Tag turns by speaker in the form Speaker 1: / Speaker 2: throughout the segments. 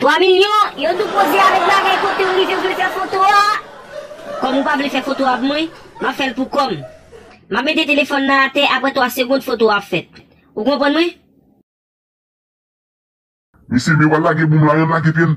Speaker 1: 3 milyon, yo tou poze avèk bagay kotew rive vle fè foto a, kòm ou pa vle fè foto avk mwen, map fèl pou kòm. Map mete telefòn nan atè aprè 3 segond foto a ap fèt. Ou konprann mwen?
Speaker 2: Mesye me wal lage boum la yan lage pyel.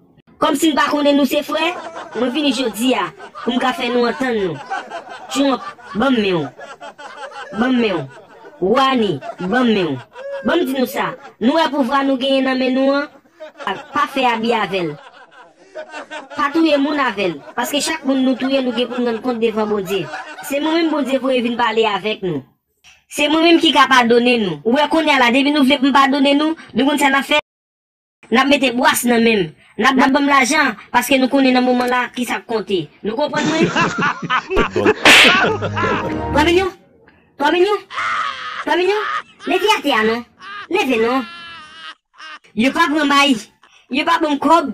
Speaker 1: Kòmsi n pa konnen nou se frè? Mwen vini jodi a pou m ka fè nou antann nou. Trump, ban m men w. Ban m men w. Rouhani, ban m men w. Ban m di nou sa, nou wè pouvwa nou genyen nan men nou an? Pa fè abi avè l. Pa touye moun avè l. Paske chak moun nou touye nou gen pou n rann kont devan Bondye. Se mwen menm Bondye voye vin pale avèk nou. Se mwen menm ki ka padone nou. Ou wè kounye a la depi nou vle pou m padone nou, nou konn sa n ap fè? N ap mete bwas nan men m. N ap ban m lajan, paske nou konnen nan moman la ki sa k konte. Nou konprann mwen? Twa milyon? Twa milyon? Twa milyon? Leve atè a non! Leve non! Yo pa pran bayi. Yo pa ban m kòb.